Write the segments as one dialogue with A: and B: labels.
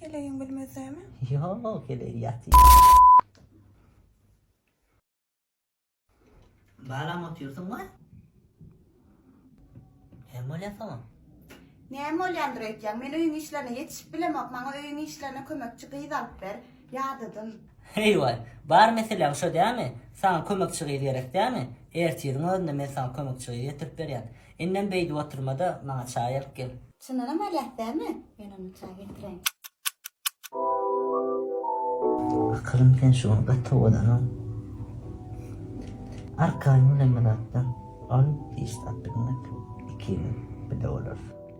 A: Heleýiň bilmezämi? Ýok, heleý
B: ýaty. Balam otyrsyň we Näme bolýarsoň? Näme
A: bolýandyr öýtýäň? Men öýüň işlerine ýetişip bilemok. Maňa öýüň işlerine kömekçi gyz alyp ber. Ýadadym. Heý waý,
B: bar meseläň şo dämi? Saňa kömekçi gyz gerek dämi? Ertiriň özünde men saňa kömekçi gyz getirip berýän. Indem beýdip oturma-da, maňa çaý alyp gel. Çyndanam alýas
A: dälmi? Men onda
B: çaý getireýin. Akylym sen şu gün gaty owadanam. Arkaýyn bilen bir zatdan ol iş tapdygyňa iki ýyl, bir-de bolar.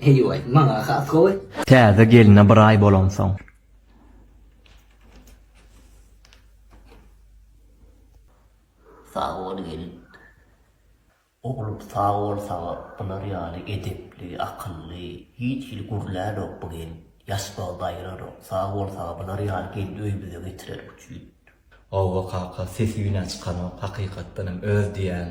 B: Heý-oý, maňa has gowy. Täze gelne
C: bir aý bolansoň.
B: Sag bol gelin. Oglum sag bol saňa bular ýaly edepli, akylly, hiç hili gürlänok bu gelin. Ýaşbagy daýranok. Sag bol saňa bular ýaly gelni öýümize getirerik üçin. Howwa
C: kaka sesi ýüne çykanok hakykatdanam öz diýýän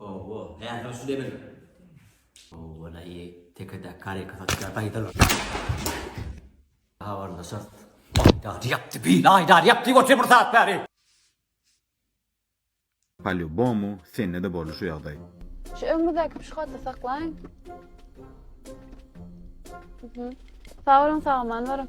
B: Owo, häzir şu demini. Owo-laý, tekedäki karýka satýar, gaýdalar. Habarlaşarys. Aýdar ýapdy, beýle aýdar ýapdy goçy bir sagat bäri.
D: Polýubomu, sende-de boldy şu ýagdaý. Şu öňümizdäki
E: pişohoda saklaýyň. Sag boluň, sag-aman boluň.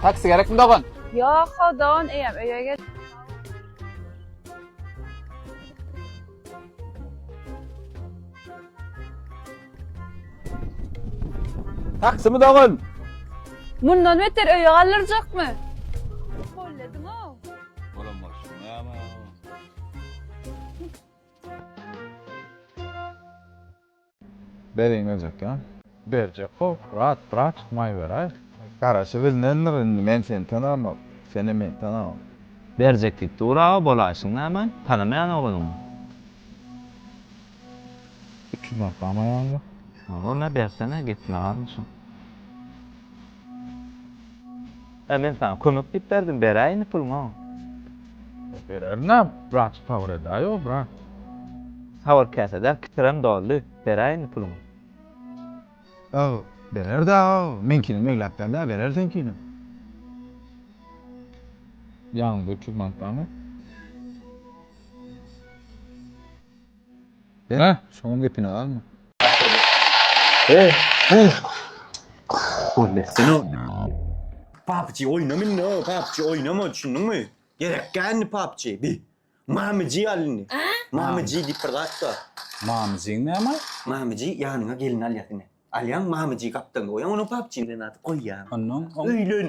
F: Taksi gerekmi dogan? Ýok, ho dogan,
E: eýem öýe gel.
F: Taksimi dogan? Mundan
E: beter öýe galdyrjakmy? Hollediň-ow. Olam bolsun,
D: näme? Berin geljek ya. Berjek bol brat brat tutmay beray. Garaşy bilinendir indi men seni tanamok senem meni tanamok. Berjek diýip
C: dur aga bolaýşyň näme tanamaýan ogluňy. Üç
D: ýüz manat bamaýaňmy? Ol ne bersene
C: gitme galmyşyn. Hä, men saňa kömek diýip berdim, beräý indi puluňy.
D: Bererin-ä, brat, sabyr edäý-ow, brat. Sabyr
C: käsä-dä, kitrem doldy, beräý indi puluňy.
D: Ag, berer-dä, ag, meňkinem egläp ber-dä, berer seňkinem. Ýanyňda üç ýüz manat barmy? Hä, şoňam gepine galma. Heh, heh.
G: Gol etsene. PUBG oýnam indi, PUBG oýnama, düşündiňmi? Gerek däl indi PUBG. Bi. Mamyjy al indi. Mamyjy diýip bir zat bar. Mamyjyň
D: näme? Mamyjy ýanyňa
G: gelin alýas indi. Alýaň, mamyjy gapdalyňda goýaň, onuň PUBG-ni ady goýýaň. Onnoň? Öýlen.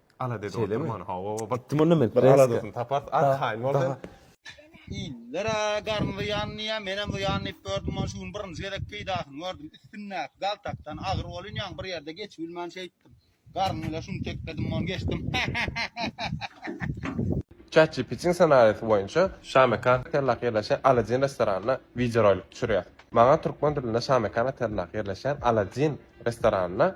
H: Aladedi oturman
I: hawa Gitdim onda
H: men bir aladasyny taparys arkaýyn bol sen. Indira
G: garny zyýan diýýär menem zyýan diýip gördüm ony şu gün birinji gezek peýdasyny gördüm üstündäki galtakdan agyr bolýn ýaňy bir ýerde geçibilmän şeýtdim garny bile şuny tekledim mony geçdim hahahahaha.
H: Chatgptniň ssenariýasy boýunça Şamekan otellaky ýerleşýän Aladin restoranyna wideorolik düşürýäs. Maňa türkmen dilinde Şamekan otellaky ýerleşýän Aladin restoranyna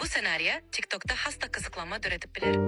J: Bu ssenariýa TikTokda has-da gyzyklanma döredip biler.